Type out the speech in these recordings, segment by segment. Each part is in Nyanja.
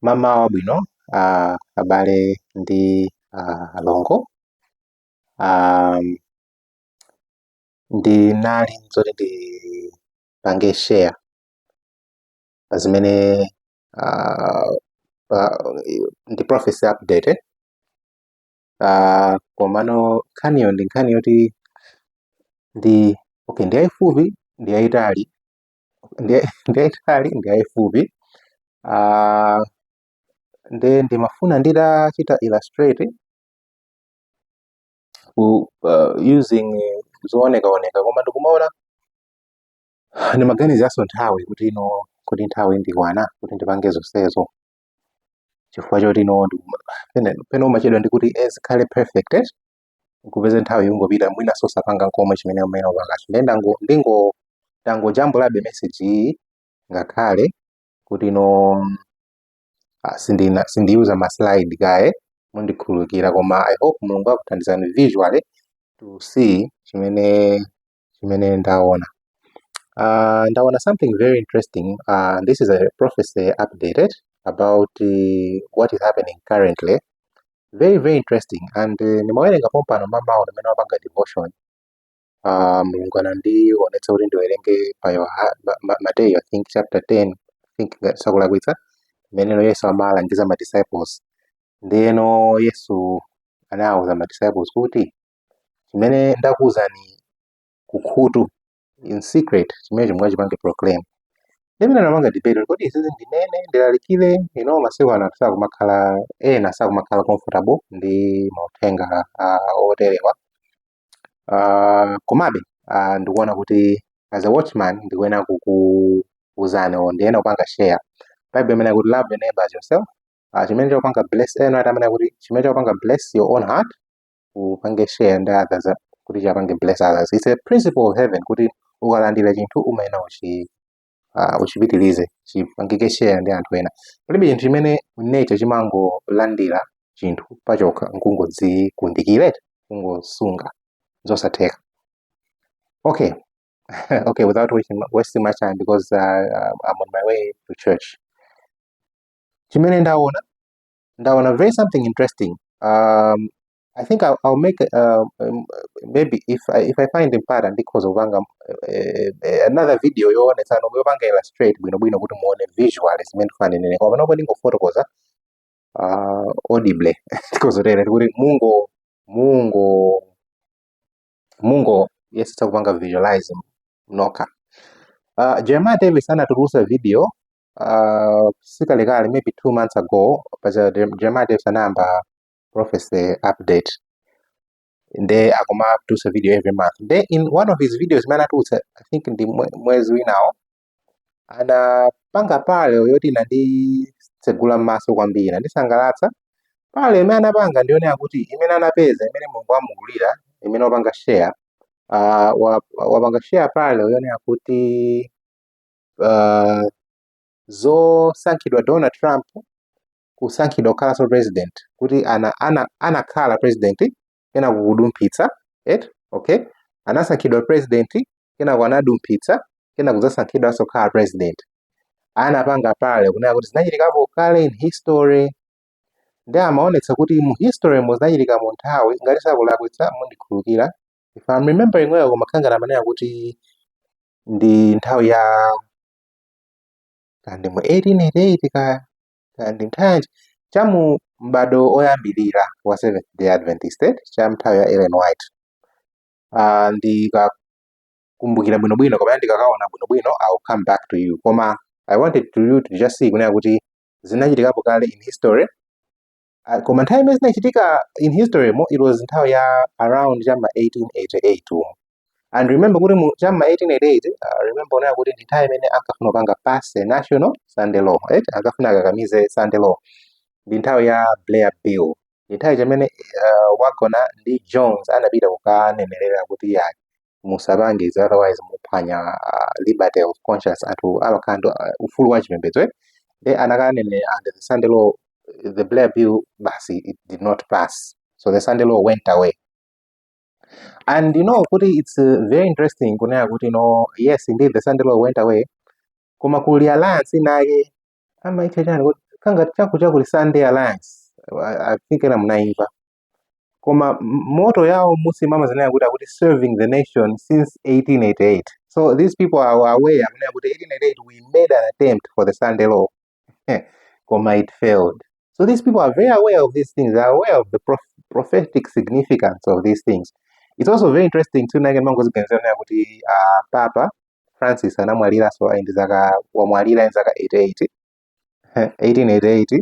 Mamawa abwino uh, abale ndi uh, alongo um, ndinali zoti ndipange share pa zimene uh, ndi prophecy update eh? uh, komano nkhaniyo ndi nkhani yoti ndi okay ndi yayifupi ndi yayitali ndiyayitali ndiyayifupi ah, nde ndimafuna nditachita illustrate ku, uh, using zoonekaoneka koma ndikumaona ndimaganizaso nthawi kuti ino kuti nthawi ndikwana kuti ndipange zonsezo chifukwa choti ino pena umachedwa ndikuti zikhale perfect eh? ukupeze nthawi ikungopita mwina sosapanga nkomwe chimene umene upakacho ndiye ndango ndingo ndangojambulabe message iyi ngakhale kuti no ah, sindina sindiyuza ma slide kaye mundikhululukira koma i hope mulungu akuthandizani visually to see chimene chimene ndaona uh, ndaona something very interesting uh, this is a prophecy update about uh, what is happening currently very very interesting and uh, eh, ndimawerenga pompano mmamawa mmene ndimapanga devotion uh, mulungu anandiwonetsa kuti ndiwerenge pa mateyu i think chapter 10 ngati sindikulakwitsa mmene yesu amalangiza ma disciples ndiyeno yesu anawuza ma disciples kuti chimene ndakuwuzani kukhutu in secret chimenecho mukachipange proclaim ndiye ndimapanga debate kodi izizi ndinene ndilalikire you know masiku ano anthu sakumakhala ena sakumakhala comfortable ndi mauthenga uh, oterewa uh, komabe uh, ndikuona kuti as a watchman ndikuyenera kukuuzani o ndiyenera kupanga share bible imanena kuti love your neighbor as yourself uh, chimene chakupanga bless ena ati amene kuti chimene chakupanga bless your own heart upange share ndi others uh, kuti chapange bless others it's a principle of heaven kuti ukalandira chinthu umayenera uchi uh, uchipitirize chipangikenso share ndi anthu ena palibe chinthu chimene nature chimangolandira chinthu pachokha nkungodzikundikire kungosunga zosatheka okay okay without wasting, wasting my time because uh, uh, i'm on my way to church chimene ndaona Ndaona something very interesting, um, I think I'll, I'll make uh, um, maybe if I, if I find mpata ndikhoza kupanga eh, eh, another video yoonetsa nomwe yopanga illustrate bwinobwino kuti muone visual zimene ndifuna ndinene koma panopo ndingofotokoza uh, audible ndikhoza kutero kuti mungo mungo mungo yesetsa kupanga visualize nokha uh, Jeremiah Davis anatulutsa video uh, sikalekale maybe two months ago paja Jeremiah Davis anayamba prophecy update nde akuma produce video every month nde in one of his videos imene anatulutsa i think ndi mwezi winawo anapanga parallel yoti inanditsegula m'maso kwambiri nandisangalatsa parallel imene anapanga ndi yonena kuti imene anapeza imene mulungu wamuululira imene wapanga share uh, wapanga share parallel yonena kuti uh, zosankhidwa Donald Trump kusankhidwa kukhalanso president kuti ana ana anakhala president kenako kudumphitsa eti okay anasankhidwa president kenako anadumphitsa kenako kudzasankhidwanso kukhala president anapanga parallel kunena kuti zinachitikapo kale in history nde amaonetsa kuti mu history mo zinachitika mu nthawi ngati sakulakwitsa mundikhululukira if I'm remembering well kumakhala ngati amanena kuti ndi nthawi ya kaya ndi mu 1888 kaya kaya ndi nthawi yanji cha mu m'bado oyambirira wa Seventh Day Adventist eh, cha nthawi ya Ellen White uh, ndikakumbukira bwinobwino kapena ndikakaona bwinobwino I'll come back to you koma I wanted to you to just see kunena kuti zinachitikapo kale in history Ah, koma nthawi imene zinachitika in history mo it was nthawi ya around chama 1888 umo and remember kuti mu chama 1888 uh, remember kunena kuti ndi nthawi imene ankafuna kupanga pass a national sunday law right ankafuna akakamize sunday law ndi nthawi ya blair bill ndi nthawi chamene uh, waggoner ndi jones anapita kukanenerera kuti ya musapange izi otherwise muphwanya ah, liberty of conscience anthu amakhala ndi ah, ufulu wa chipembedzo eh? nde anakanena and the sunday law the blair bill basi it did not pass so the sunday law went away and you know kuti it's uh, very interesting kunena kuti no yes indeed the sunday law went away koma kuli alliance inake amaitcha chani kuti ngati chaku chakuti sunday alliance I, I think ena munaimva koma m- motto yawo munsimo amazinena kuti akuti serving the nation since 1888 so these people are aware amanena kuti 1888 we made an attempt for the sunday law koma it failed so these people are very aware of these things they are aware of the prof- prophetic significance of these things it's also very interesting too ndikamangoziganizira kunena kuti uh, papa francis anamwaliranso ali ndi zaka wamwalira ndi zaka 88 1888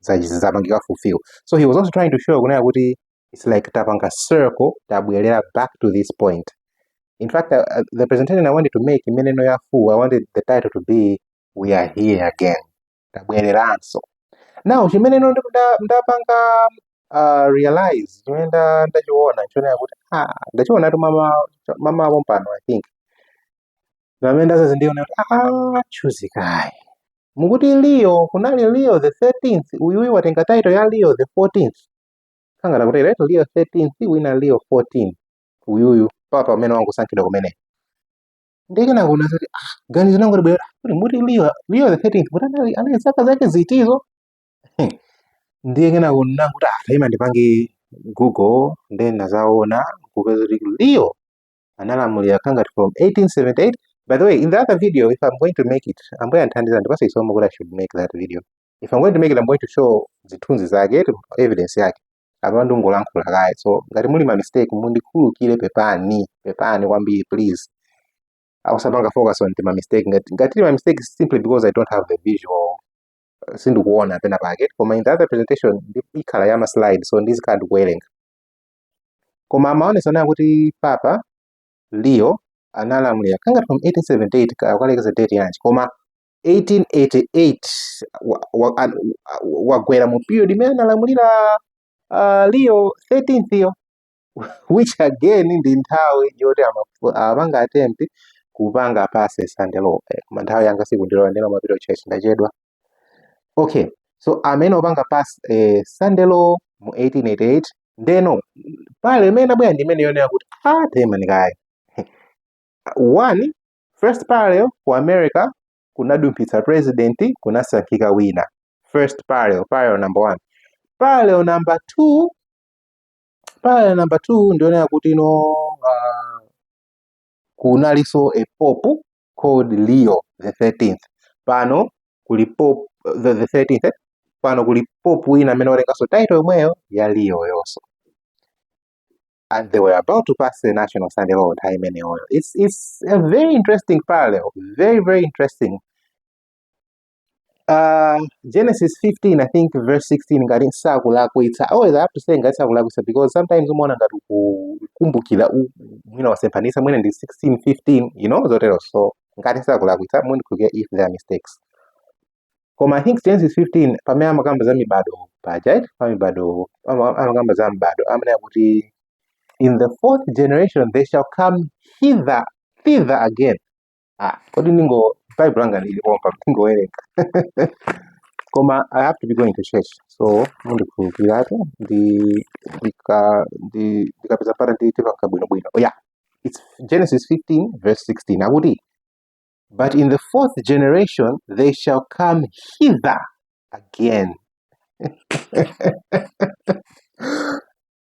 zapangidwa fulfill so he was also trying to show kunena kuti it's like tapanga circle tabwerera back to this point in fact uh, uh, the presentation i wanted to make imeneyo ya full i wanted the title to be we are here again tabwereranso now chimeneno ndapanga uh, realize chimene ndachiona chionera kuti ah, ndachiona tu mama mama pompano i think pamene ndazazindiona kuti ah, chuzikayi ndikuti leo kunali leo the 13th uyuyu watenga title ya leo the 14th kaya ngati right leo 13th wina leo 14 uyuyu papa amene wangosankhidwa kumene ndiye kenako kuona kuti ah ganizo langu libwera kuti muti leo leo the 13th kuti anali anali zaka zake zitizo ndiye kena kunena kuti ah taima ndipange google ndiye ndadzaona kupeza kuti leo analamulira kaya ngati from 1878 by the way in the other video if i'm going to make it ambuye akandithandiza andipase chisomo kuti i should make that video if i'm going to make it i'm going to show zithunzi zake evidence yake apa ndungolankhula kaye so ngati muli ma mistake mundikhulukire pepani pepani kwambiri please osapanga focus on ma mistake ngati muli ma mistake simply because i don't have the visual uh, sindikuona pena pake koma in the other presentation ikhala ya ma slide so ndizikhala ndikuwerenga koma amaonesa kunena kuti papa leo analamulira kaya ngati from 1878 ka- kukalekezera date yanji koma 1888 wa- wa- an- wa- wagwera mu period imene analamulira uh, leo 13th yo which again ndi nthawi yoti amafu- amapanga attempt kupanga pass sunday law Eh, koma nthawi yanga sikundilora ndinyamuke ndipite church ndachedwa okay so amafuna kupanga pass eh, sunday law mu 1888 ndeno parallel imene inabwera ndi imene yonena kuti ah taimani kaye one first parallel ku america kunadumphitsa president kunasankhika wina first parallel parallel number one parallel number two parallel number two ndi yonena kuti no uh, kunalinso a pope called Leo the 13th pano kuli pope the, the 13th eh? pano kuli pope wina amene watenganso title yomweyo ya Leo yonso and they were about to pass the national Sunday law nthawi imeneyoyo it's, it's a very interesting parallel very very interesting Uh, Genesis 15 I think verse 16 ngati sindikulakwitsa always I have to say ngati sindikulakwitsa because sometimes umaona ngati kukumbukira u- mwina wasemphanisa mwina ndi 16 15 you know zotero so ngati sindikulakwitsa mundikhulukire if there are mistakes koma I think Genesis 15 pamene amakamba za mibado paja right? pa mibado ama- amakamba za mibado amanena kuti in the fourth generation they shall come hither thither again ah kodi ndingo bible langa lili pompa ndingowerenga koma i have to be going to church so mundikhululukiretu ndi ndika- ndi- ndikapeza mpata ndidzipanga bwinobwino oh, yeah it's genesis 15 verse 16 akuti but in the fourth generation they shall come hither again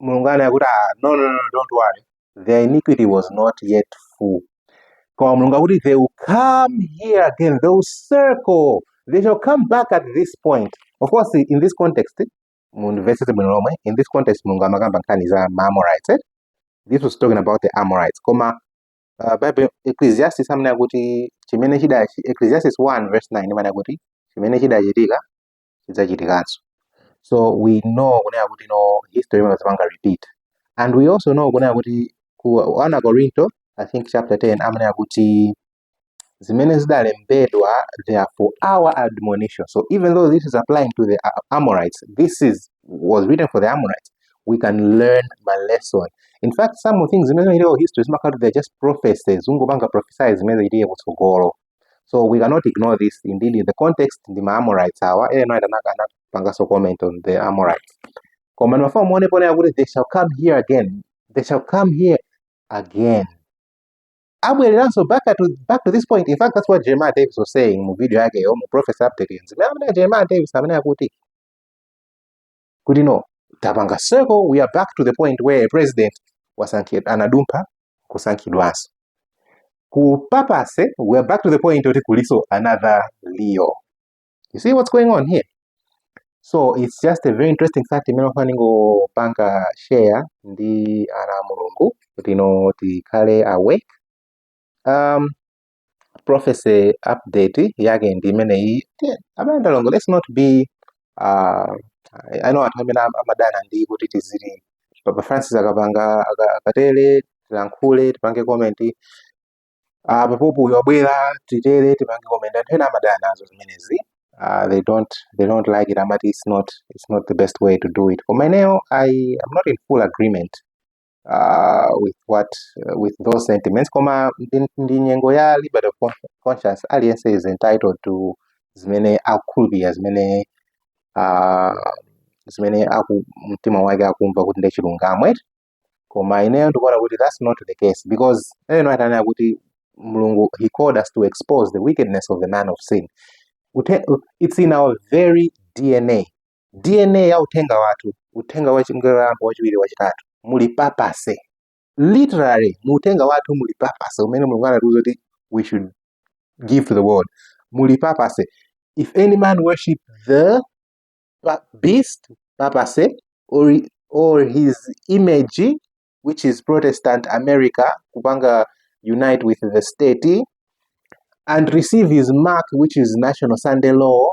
mulungu ananena kuti ah, no, no, no, don't worry their iniquity was not yet full koma mulungu akuti they will come here again they will circle they shall come back at this point of course in this context mundimvetsetse bwino lomwe in this context mulungu amakamba nkhani za maamorites eh? this was talking about the amorites koma uh, bible ecclesiastes imanena kuti chimene chida ecclesiastes 1 verse 9 imanena kuti chimene chidachitika chidzachitikanso so we know kunena kuti no history imazipanga repeat and we also know kunena kuti ku akorinto i think chapter 10 amanena kuti zimene zidalembedwa they are for our admonition so even though this is applying to the A- amorites this is was written for the amorites we can learn ma lesson in fact some things zimene zinachitika ku history zimakhala kuti they're just prophecies zikungopanga prophesize zimene zidzachitike kutsogolo so we cannot ignore this indeed in the context ndi ma amorites awa ena ena anaka- anapanganso comment on za amorites koma ndimafuna muone ponena kuti they shall come here again they shall come here again abwereranso back to, back to this point in fact that's what jeremiah davis was saying mu video yakeyo mu prophecy update zimene amene jeremiah davis amene akuti kuti no tapanga circle we are back to the point where a president wasankhidwa anadumpha kusankhidwanso ku papase we are back to the point kuti kulinso another leo you see what's going on here so it's just a very interesting fact imene ndimafuna ndingopanga share ndi ana a mulungu kuti no tikhale awake um, prophecy update yake ndi imeneyi abale ndi alongo let's not be uh, i know anthu amene am- amadana ndi kuti tiziti papa francis akapanga aka- akatere tilankhule tipange comment uh, papa uyo abwera titere tipange comment anthu ena amadana nazo zimenezi uh, they don't they don't like it amati it's not it's not the best way to do it koma ineyo i am not in full agreement uh, with what uh, with those sentiments koma ndi nyengo ya liberty of conscience aliyense is entitled to zimene akukhulupirira zimene uh, zimene aku mtima wake akumva kuti ndi chilungamo eti koma ineyo ndikuona kuti that's not the case because Ellen White ananena kuti mulungu he called us to expose the wickedness of the man of sin it's in our very dna dna ya uthenga wathu uthenga wa mngelo woyamba wachiwiri wachitatu muli papacy literally mu uthenga wathu muli papacy umene mulungu anatiuza kuti we should give to the world muli papacy if any man worship the pa- beast papacy or, or his image which is protestant america kupanga unite with the state and receive his mark which is national sunday law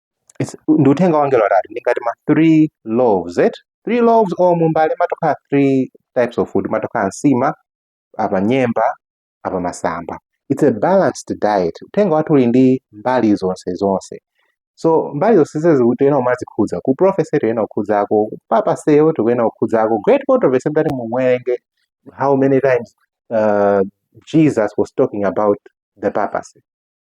It's- ndi uthenga wa angelo atatu ndi ngati ma three loaves eti three loaves or mbale matokhala three types of food mumatokhala nsima apa nyemba apa masamba it's a balanced diet uthenga wathu uli ndi mbali zonse zonse so mbali zonse zimenezi tikuyenera kumazikhudza ku prophecy tikuyenera kukhudzako ku papacy yo tikuyenera kukhudzako great controversy ndati mumwerenge how many times uh, jesus was talking about the papacy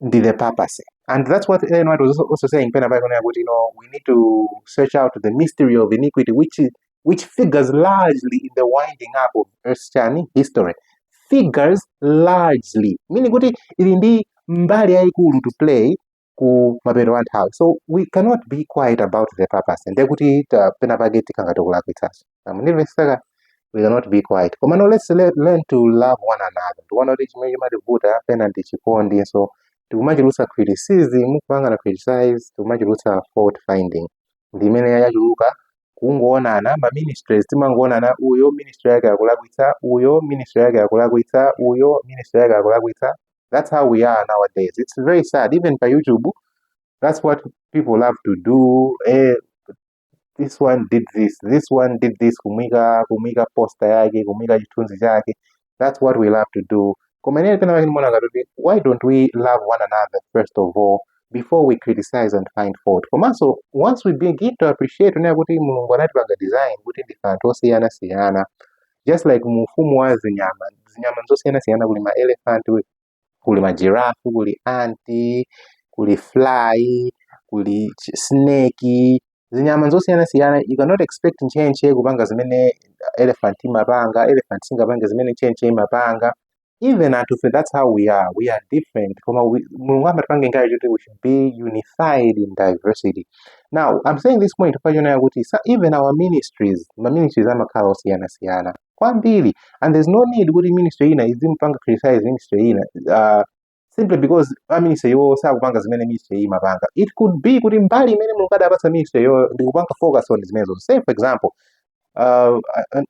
ndi the papacy and that's what Ellen White was also, also saying pena pake kunena kuti you know, we need to search out the mystery of iniquity which, is, which figures largely in the winding up of earth's chani history figures largely meaning kuti ili ndi mbali yayikulu to play ku mapeto a nthawi so we cannot be quiet about the papacy ndekuti ta- pena pake tikhala ngati tikulakwitsanso amvetseke we cannot be quiet komano let's le- learn to love one another tikuona kuti chimene chimativuta pena ndi chikondi so tikumachulutsa criticism kupangana criticize tikumachulutsa fault finding ndi imene yachuluka kungoonana ma ministries timangoonana uyo ministry yake akulakwitsa uyo ministry yake akulakwitsa uyo ministry yake akulakwitsa that's how we are nowadays it's very sad even pa youtube that's what people love to do eh, this one did this this one did this kumuyika kumuyika poster yake kumuyika chithunzi chake that's what we love to do koma ineyo pena pake ndimaona ngati kuti why don't we love one another first of all before we criticize and find fault komanso once we begin to appreciate kunena kuti mulungu anatipanga design kuti ndife anthu osiyanasiyana just like mu ufumu wa zinyama zinyama zosiyanasiyana kuli ma elephant kuli ma giraffe kuli ant kuli fly kuli chi- snake zinyama zosiyanasiyana you cannot expect ntchentche kupanga zimene elephant imapanga elephant singapange zimene ntchentche imapanga even anthufe that's how we are we are different koma we- mulungu anatipanga design kuti we should be unified in diversity now i'm saying this point chifukwa chonena kuti sa- even our ministries ma ministries amakhala osiyanasiyana kwambiri and there's no need kuti ministry ina izimupanga criticize ministry ina uh, simply because a ministry iwo sakupanga zimene ministry iyi imapanga it could be kuti mbali imene mulungu adapatsa ministry iyo ndikupanga focus on zimenezo say for example uh, uh,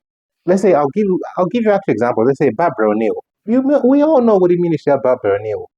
let's say I'll give, I'll give you actual example let's say barbara o'neill you, may- we all know kuti ministry ya barbara o'neill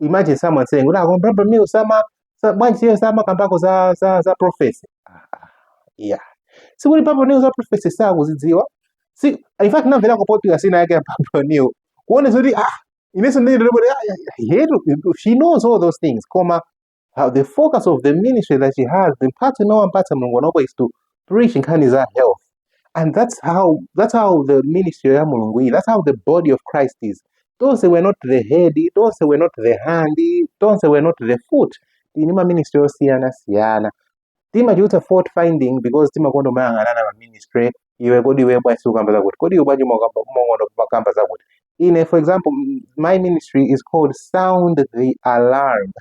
imagine someone saying ula kwa brother mi usama sa- bwanji siyo sama kambako za za za prophecy Ah, ah, yeah sikuti papa new za prophecy sakuzidziwa si in fact namvera kupotika sina yake ya papa new kuone zoti ah ineso ndiri ndiri kuti ah, yeah, yeah, yeah, she knows all those things koma how the focus of the ministry that she has ndi mphatso imene wampatsa mulungu panopo is to preach nkhani za health and that's how that's how the ministry ya mulungu ili that's how the body of christ is tonse we're not the head tonse we're not the hand tonse we're not the foot tili ndi maministry osiyana siyana timachulutsa fault finding because timakonda umayang'anana ma ministry iwe kodi iwe bwanji sukukamba zakuti kodi iwe bwanji umakamba umakonda umakamba zakuti ine for example m- my ministry is called sound the alarm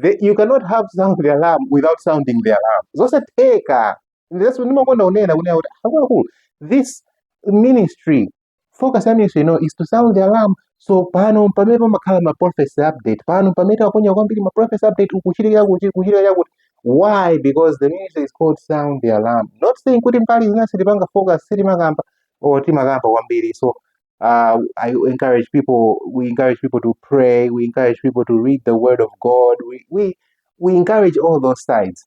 the, you cannot have sound the alarm without sounding the alarm zosatheka that's ndimakonda kunena kunena kuti akuluakulu this ministry focus ya ministry ino is to sound the alarm so pano pamene pamakhala ma prophecy update pano pamene timaponya kwambiri ma prophecy update kukuchitika kuti kukuchitika chakuti why because the ministry is called sound the alarm not saying kuti mbali zina sitipanga focus sitimakamba or timakamba kwambiri so uh, I encourage people we encourage people to pray we encourage people to read the word of God we we, we encourage all those sides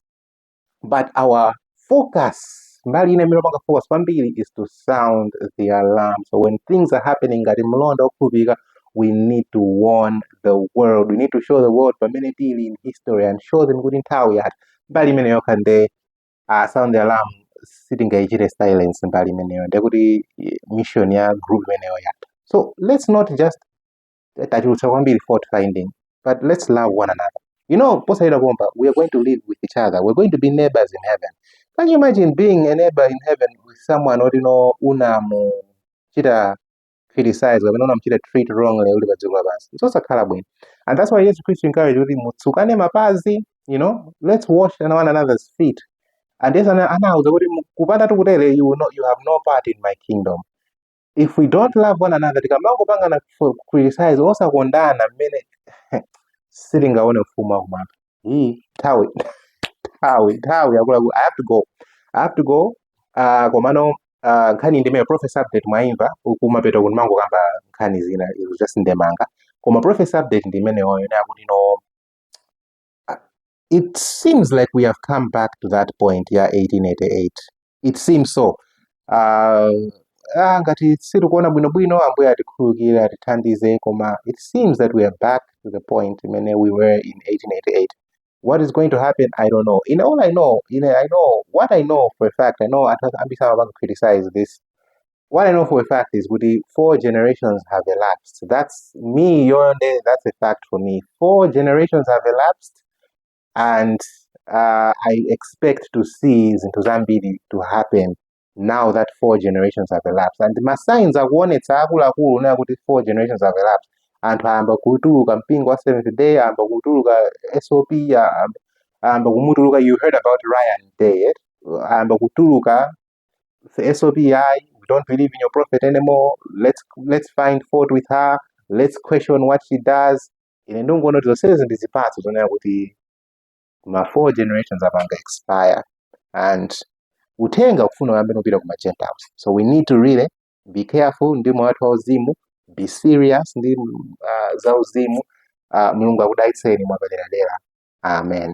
but our focus mbali ina imene timapanga focus kwambiri is to sound the alarm so when things are happening ngati mlonda wokhulupirika we need to warn the world we need to show the world pamene tili in history and show them kuti nthawi yatha mbali imeneyo yokha nde uh, sound the alarm sitingaichite silence mbali imeneyo ndekuti eh, mission ya group imeneyo yatha so let's not just tachulutsa kwambiri fault finding but let's love one another you know posayira pomba we are going to live with each other we're going to be neighbors in heaven can you imagine being a neighbor in heaven with someone oti no unamuchita criticize kapena unamuchita treat wrongly uli pa dziko lapansi zosakhala bwino and that's why yesu khristu encourage kuti mutsukane mapazi you know let's wash one another's feet and yesu anauza kuti kupanda tikutere you, no, you have no part in my kingdom if we don't love one another tikamangopangana ku- criticize osakondana mmene sitingaone ufumu wakumwamba ii nthawi nthawi nthawi yakulaku i have to go i have to go uh, komano uh, nkhani ndi imeneyi prophecy update mwaimva kumapeto kuti ndimangokamba nkhani zina it was just ndemanga koma prophecy update ndi imeneyoyo yonena kuti no it seems like we have come back to that point ya 1888 it seems so uh, ah, ngati sitikuona bwinobwino ambuye atikhululukire atithandize koma it seems that we are back to the point imene we were in 1888 what is going to happen i don't know in all i know in i know what i know for a fact i know anthu ambiri amapanga criticize this what I know for a fact is kuti four generations have elapsed. That's imeneyo nde that's a fact for me. Four generations have elapsed and uh, I expect to see zinthu zambiri to happen now that four generations have elapsed and ma signs akuonetsa akuluakulu kunena kuti four generations have elapsed anthu ayamba kutuluka mpingo wa seventh day ayamba kutuluka sop ayamba kumutuluka you heard about ryan day eh? ayamba kutuluka the SOP, I we don't believe in your prophet anymore. Let's let's find fault with her. Let's question what she does. Ine ndikungoona kuti zonsezi ndi zipatso zonena kuti ma four generations apanga expire and uthenga ukufuna uyambe kupita ku ma Gentiles. So we need to really be careful ndi moyo wathu wauzimu, be serious ndi uh, zauzimu. Uh, Mulungu akudalitseni mwapaderadera. Amen.